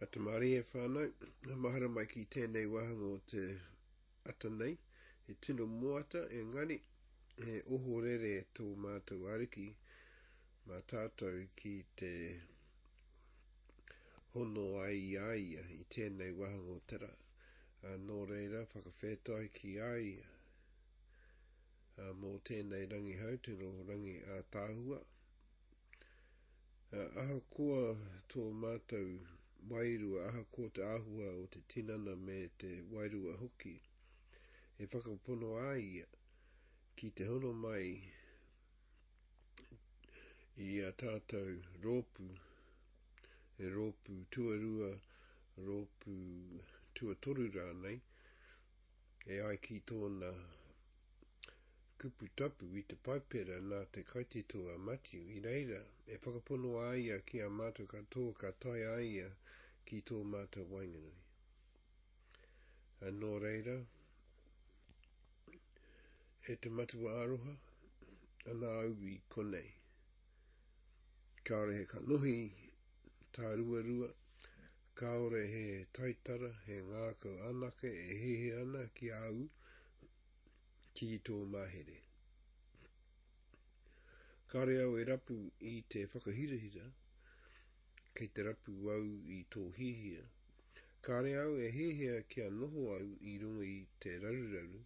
A te Marie whānau, ngā mahara mai ki tēnei wāhanga o te ata nei, he tino moata engari he ohorere tō mātou Ariki mā tātou ki te hono ai i a ia i tēnei wāhanga o te rā. Ā, nō reira, whakawhētoai ki a ia. Ā, mō tēnei rangihau, tino rangi ātaahua, Ahakoa tō mātou wairua, ahakoa te āhua o te tinana me te wairua hoki, e whakapono a ia ki te hono mai i a tātou rōpū, e rōpū tuarua, rōpū tuatoru rānei, e ai ki tōna Kupu tapu i te Paipera nā te kaitito a Matiu, i reira e whakapono a ia ki a mātou katoa ka tae a ia ki tō mātou waenganui. Ā, nō reira, e te Matua Aroha, ana a Ubi konei. Kāore he kanohi tāruarua, kāore he taitara, he ngākau anake e hehe ana ki a au, ki tō mahere. Kāre au e rapu i te whakahirahira, kei te rapu au i tō hihia. Kāre au e hēhea kia noho au i runga i te raruraru,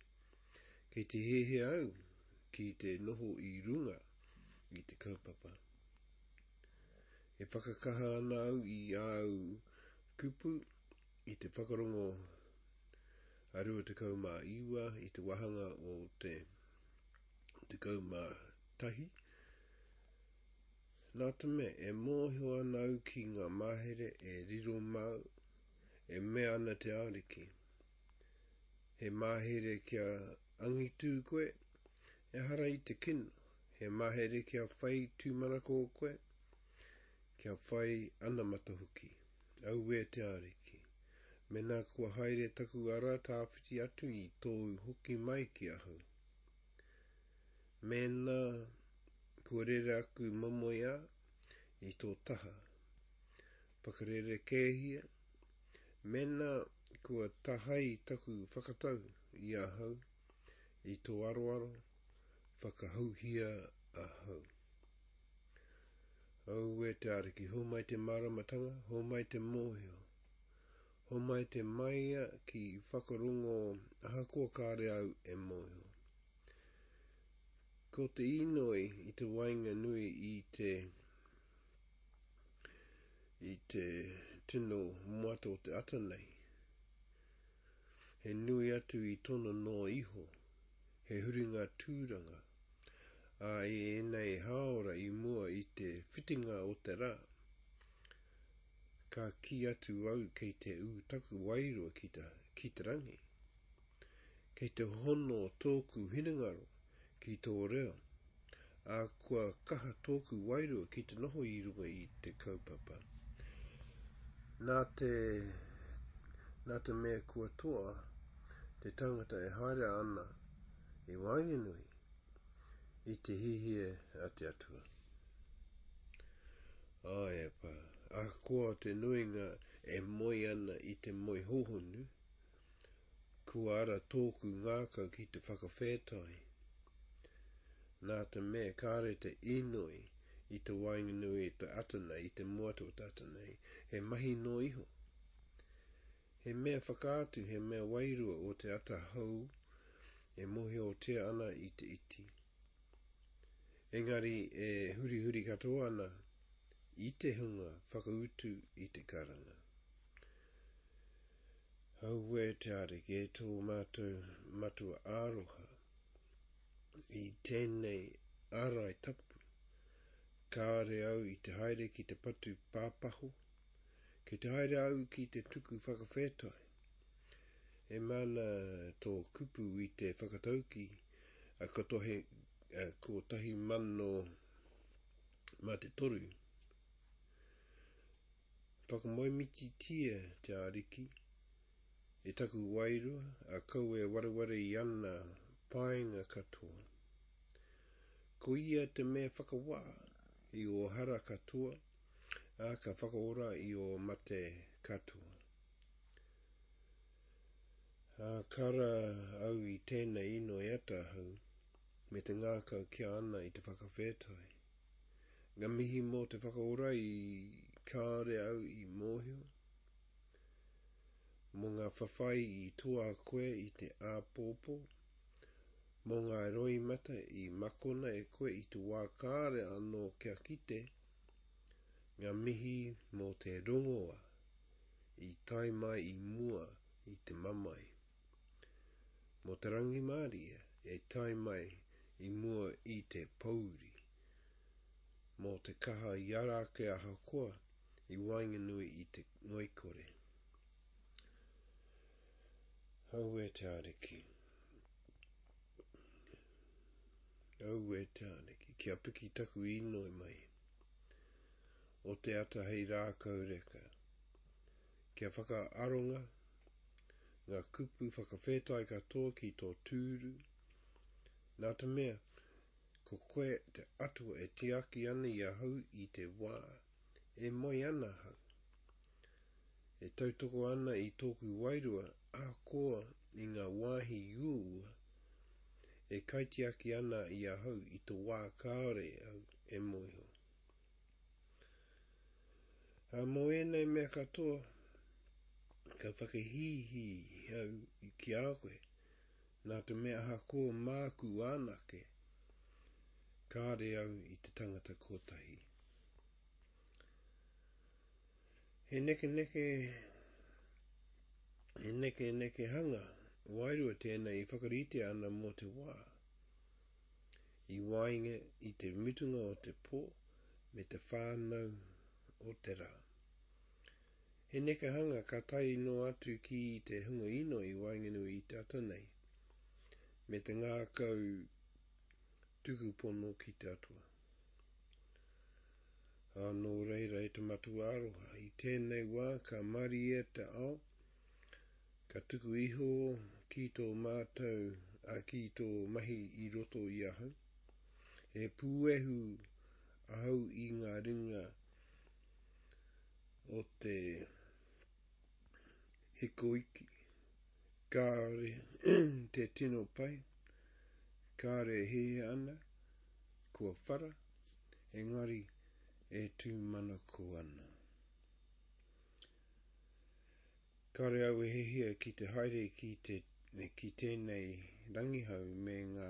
kei te hēhea au ki te noho i runga i te kaupapa. E whakakaha ana au i āu kupu, I te whakarongo a 29 i te wāhanga o te 11, nā te mea e mōhio ana au ki ngā mahere e riro māu, e mea ana te Ariki, He mahere kia angitū koe, ehara i te kino, he mahere kia whai tūmanako koe, kia whai anamata hoki. Auē te Ariki, mena kua haere taku ara tāwhiti atu i tōu hoki mai ki ahau. Mēnā kua rere aku momoeā i tō taha, whakarerekēhia, mēnā kua tahai taku whakatau i ahau, i tō aroaro, Whakahouhia ahau. Aue te Ariki, homai te māramatanga, homai te mōhio. Homai te maia ki whakarongo ahakoa kāre au e mōhio. Ko te inoi i te wainga nui i te i te tino moata o te ata nei, he nui atu i tona noa iho. He huringa tūranga. Ā, i ēnei hāora i mua i te whitinga o te rā, ka kī atu au kei te ū taku wairua ki te, ki te rangi. Kei te hono tōku hinengaro ki tō reo. ā, kua kaha tōku wairua ki te noho i runga i te kaupapa. Nā te, nā te mea kua toa te tangata e haere ana i waenganui i te hihie a te Atua. Āe, ahakoa te nuinga e moe ana i te moe hōhonu, Kua ara tōku ngākau ki te whakawhētai. Nā te mea kāore te inoi i te waenganui i te ata nei, i te moata o te ata nei, he mahi noa iho. He mea whakaatu, he mea wairua o te ata hou e mohiotia ana i te iti. Engari e hurihuri katoa ana i te hunga whakautu i te karanga. Auē te Ariki e tō mātou Matua Aroha, i tēnei ārai tapu, kāore au i te haere ki te patu pāpaho, kei te haere au ki te tuku whakawhetai. E mana tō kupu i te whakatauki a Katohe 1000 mā te toru. Whakamoemititia te Ariki, e taku wairua, a kau e wareware i ana painga katoa. Ko ia te mea whakawā i ō hara katoa, ā, ka whakaora i ō mate katoa. Ā, ka ra au i tēnei inoi ata hou, me te ngākau kia ana i te whakawhētai. Nga mihi mo te whakaora i kaore au i mohio, mo nga whawhai i toa koe i te apopo, mo nga roimata i makona e koe i te wa kaore ano kia kite, nga mihi mo te rongoa i tae mai i mua i te mamae. Mō te rangimārie e tae mai i mua i te pōuri. Mō te kaha i ara ake ahakoa i waenganui i te ngoikore. Aue te Ariki. Aue te Ariki. Kia piki taku inoi mai. O te ata hei rākau reka. Kia whakaaronga ngā kupu whakawhetai katoa ki tō tūru, nā te mea, ko koe te Atua e tiaki ana i ahau i te wā e moe ana ahau, e tautoko ana i tōku wairua ahakoa i ngā wāhi uaua e kaitiaki ana i ahau i te wā kāore au e mōhio. Ā, mō ēnei mea katoa, ka whakahīhī au ki a koe, nā te mea ahakoa māku anake, kāre au i te tangata kotahi. He nekeneke, he nekenekehanga wairua tēnei e whakaritea ana mō te wā. i waenga i te mutunga o te pō me te whānau o te rā. He nekehanga ka tae noa atu ki te hunga inoi waenganui i te ata nei, me te ngākau tuku pono ki te Atua. Ā, nō reira e te Matua Aroha, i tēnei wā ka marie te ao, Ka tuku iho ki tō mātou, ā, ki tō mahi i roto i ahau. He puehu ahau i ngā ringa o te hikoiki. Kāore te tino pai, kāore e hē ana, kua whara, engari e tūmanako ana. Kāre au e hihia ki te haere ki, te, ki tēnei rangihau me ngā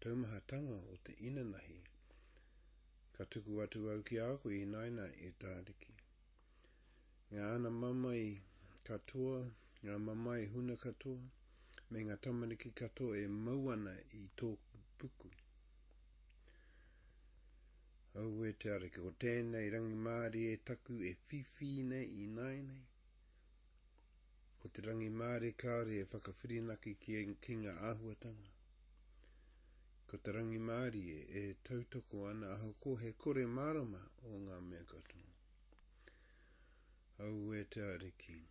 taumahatanga o te inanahi. Ka tuku atu au ki a koe i naina e Tāriki. Ngā ana mamae katoa, ngā mamae huna katoa, me ngā tamariki katoa e mau ana i tōku puku. Aue te Ariki, ko tēnei rangimārie taku e whiwhi nei ināianei. Ko te rangimārie kāore e whakawhirinaki ki, ki ngā āhuatanga. Ko te rangimārie e tautoko ana ahakoa he kore mārama o ngā mea katoa. Aue te Ariki.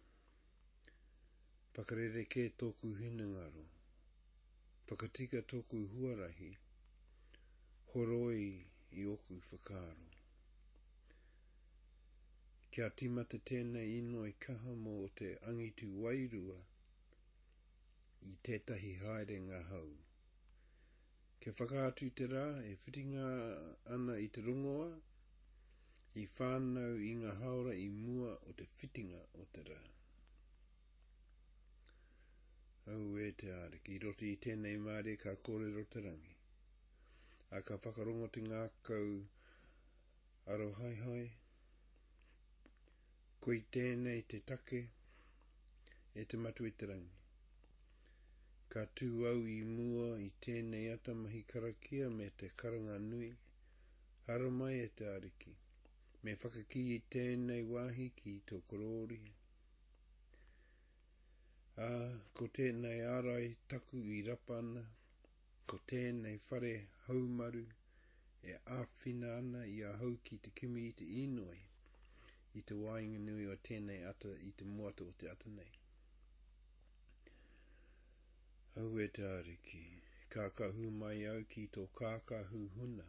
Whakarerekē tōku hinengaro. Whakatika tōku huarahi, horoi i ōku whakaaro. Kia tīmata tēnei inoi kaha mō te angitu wairua i tētahi haerenga hou. Kia whakaatu i te rā e whitinga ana i te rongoā, i whānau i ngā hāora i mua o te whitinga o te rā. Auē te Ariki, i roto i tēnei mārie ka kōrero te rangi, ā, ka whakarongo te ngākau arohaehae, Ko i tēnei te take, e te Matua i te Rangi. Ka tū au i mua i tēnei ata mahi karakia me te karanga nui, haramai e te Ariki, me whakakī i tēnei wāhi ki tō korōri, ā, ko tēnei ārai taku i rapa ana, Ko tēnei whare haumaru e āwhina ana i ahau ki te kimi i te inoi i te waenganui o tēnei ata i te moata o te ata nei. Aue Taariki, kākahu mai au ki tō kākahu huna,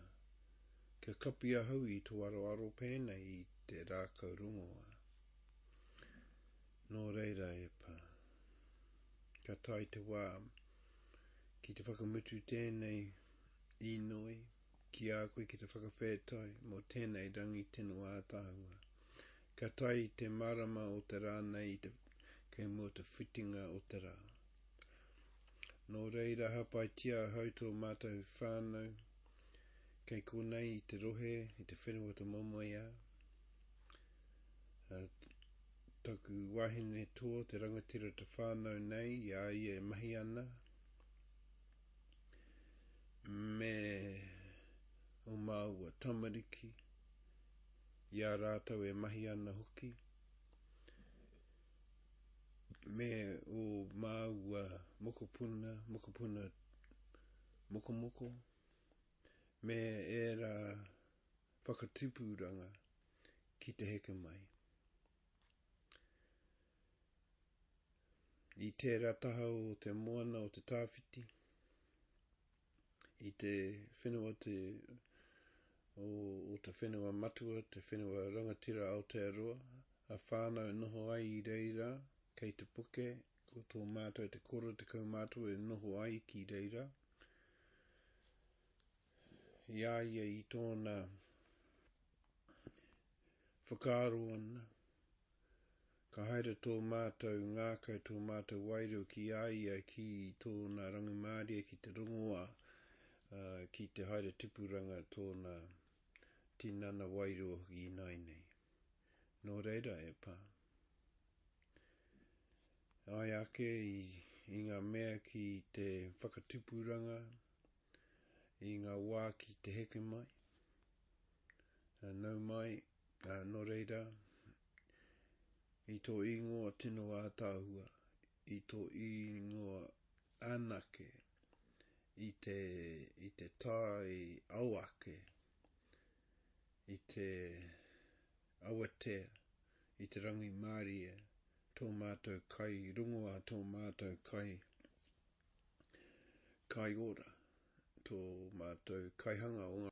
kia kapi ahau i tō aroaro pēnei i te rākau rongoā. Nō reira e Pā. Ka tae te wā, Ki te whakamutu tēnei inoi ki a koe ki te whakawhētai mō tēnei rangi tino ātaahua. Ka tae i te marama o te rā nei i te kei mua te whitinga o te rā. Nō reira hāpaitia ahau tō mātou whānau kei konei i te rohe, i te whenua o te momoeā, Taku wahine tō te rangatira te whānau nei i a ia e mahi ana me o māua tamariki, i a rātou e mahi ana hoki, me o māua mokopuna, mokopuna mokomoko, me ērā whakatupuranga ki te heke mai. I tērā taha o te moana o te tāwhiti, i te whenua te, o, o te whenua matua, te whenua rangatira Aotearoa, a whānau noho ai i reira, kei te puke, ko tō mātou te koro te kaumātua e noho ai ki reira. i a ia i tōna whakaaro ana, ka haere tō mātou ngākau, tō mātou wairua ki a ia ki tōna rangimārie ki te rongoā, ki te haere tipuranga tōna tinana wairua hoki ināinei. Nō reira e pā. Ai ake i, i ngā mea ki te whakatipuranga, i ngā wā ki te heke mai, nau mai, ā, nō reira, i tō īngoa tino ātaahua, i tō īngoa anake, i te, i te tae au ake, i te awatea, i te rangimārie, tō mātou kai, rongo ā tō mātou kai, Kai ora to matou kaihanga o nga.